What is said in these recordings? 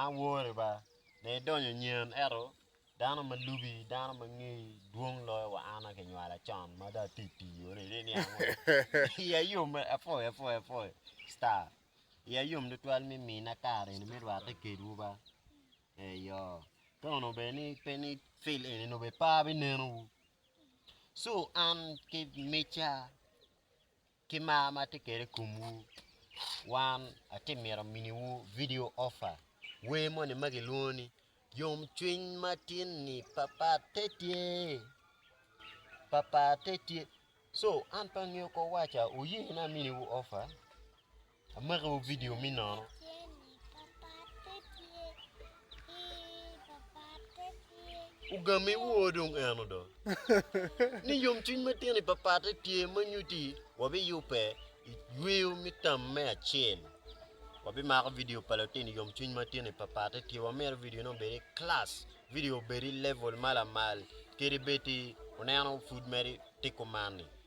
An wore ba, dong idonyo nyen, ento dano ma lubi, dano ma ngeyi dwong loyo wa an ma kinywala con ma dong atye i pii yo ni, ni niang wek iya yom apwoyo apwoyo apwoyo star iya yom tutwal me mina kare eni me rwate kedwu ba eyo ka onongo bed ni pe ni fil eni onongo bed pe abineno wu, so an ki micca Ki mar ma atye kwede i komwu, wan atye mito miniwu vidio ofa wer moni ma gilwongo ni Yomcwiny Matin-ni Papat Te Tye? Papat Te Tye? So, an pe angeyo kor waca, wuyene aminiwu ofa. Amakiwu vidio me nono. Ugamme woo dong en odo. Ni yomcwiny matino i papatte tye ma nyuti wabiyubbe i yweyo me tam me acel. Wabimako vidio pa latin yomcwiny matino i papatte tye wamito vidione obed i kilac, vidio obed i level ma lamal kede bed i uneno pud mere tiko man ni.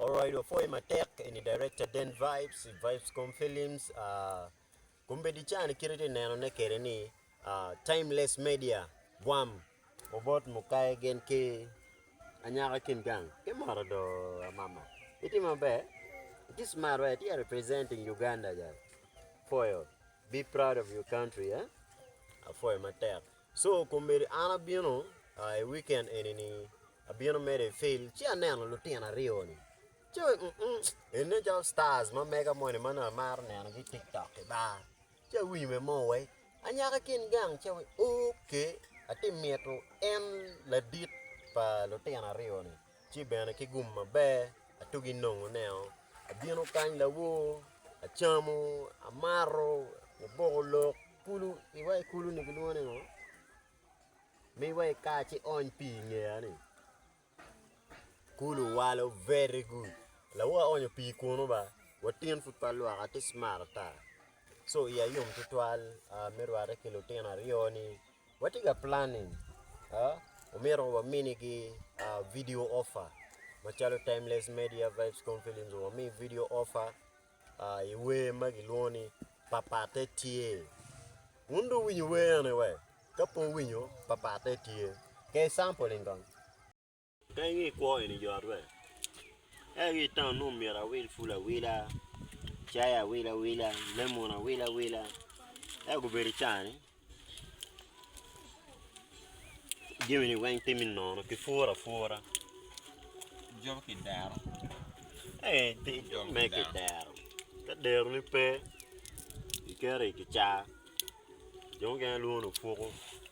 Alright wa pwoyo matek eni director Den Vibes i Vibescom Films kombeddi ca ni kit itye neno ne kede ni Timeless Media gwam obot mukayi gin ki anyaka kin gang ki moto do amama itye maber itye smart wa itye representing Uganda ja pwoyo be proud of your country apwoyo matek. So komedi an abino a i weekend eni ni abino medo i field ci aneno lutino aryo ni ci mm en nen calo stars ma mega moni ma nongo amaro neno gi i tiktok i bar ci awinyo me mo wai anyaka i kin gang ci awaco ok ati mito en ladit pa lutino aryo ni. ci bene ki gum maber atugi nongo neo abino kany lawor acamo amato aboko lok kulu iwa i kulu ni gilwongo ni ngo miwa i kar ci ony pii ingeya ni kulu walo very good lawor aonyo pii kunu ba watin pud pe alwaka atye cmart ata so iya yom tutwal me rwate ki lutino aryo ni Watye ka planning omyero waminigi video offer macalo Timeless Media, Vibescom Films wami video offer i wer ma kilwongo ni Papate Tye. Wun dong wuwinyo wer eni wee? Ka pe wuwinyo, Papate Tye. Ker sample in kong. Ka inge i kwo eni jo aryo, ento ki i taun nongo myero awil pul awila, cai awil awila, lemon awil awila ento gubedo i caa-ni jami-ni weng tye me nono kipuro apura calo kidero me kidero ka derone pe iketo i kicaa jo mukene lwongo ni opuko.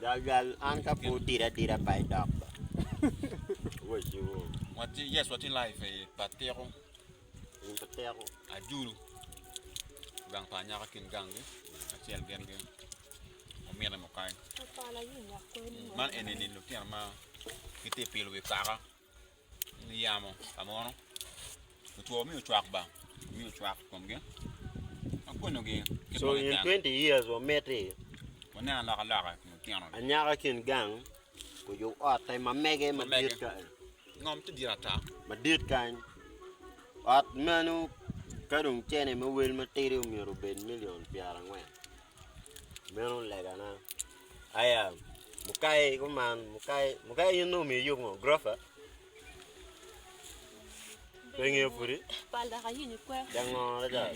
Gal gal an ka pud dira adira pa idok ba. Waciwo. Wati yes wati live e patiko. In patiko. Ajulu. Gang pa anyaka kin gang gi. Acel gen gen. Omine mo kai. Man eni ni lutino ma kiti pilo wi kaka. niyamo ka mono otwo mi ocwak ba mi ocwak i komgi ma konyogi kit So ma in keken 20 years wamiti, waneno alokaloka i kom lutino-ni anyaka ki in gang oyub otte ma mege madit Mamege. kany, ngom ti dit ata madit kany. Ot meno ka dong cene me wel matidi omyero obed milion pyerangwen. Meno legana. Aya, mukai kuman, mukai, mukai in nongo omiyo yub ngo? Gurofa? Pe ingeyo pudi? Pal dok ayinyo kwe. Dango adada.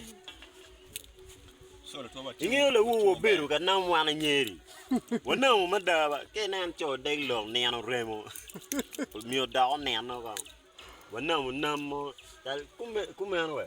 Ingeyo lawo wabedo ka nam wan anyeri. Wanamo mada ba. Ka inen co deg lok nino remo. Omiyo dok oneno kong. Wanamo nam mo. Tal kume- Kumeno we.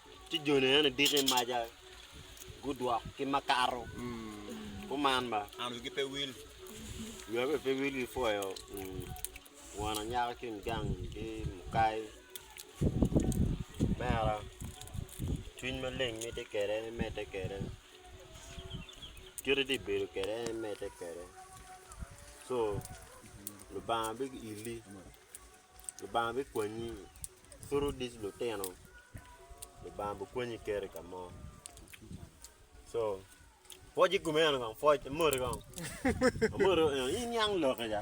Ci jone eni diko i maca, gudwok ki makato. Kuman ba, an wigi pe wil, wia bene pe wil ki pwoyo won anyaka ki gang ki mukai. Mera, cwiny maleng mitte kwede, imedde kwede. Kite iti bedo kwede en imedde kwede. Co, Lubanga biili, Lubanga bikwanyi. Kur wudic lutino, Lubanga bikonyi keri i ka mo. Co, Pwoc i kome eno kong, pwoc, amoti kong. Amoti, "Eh, iniang lok kica.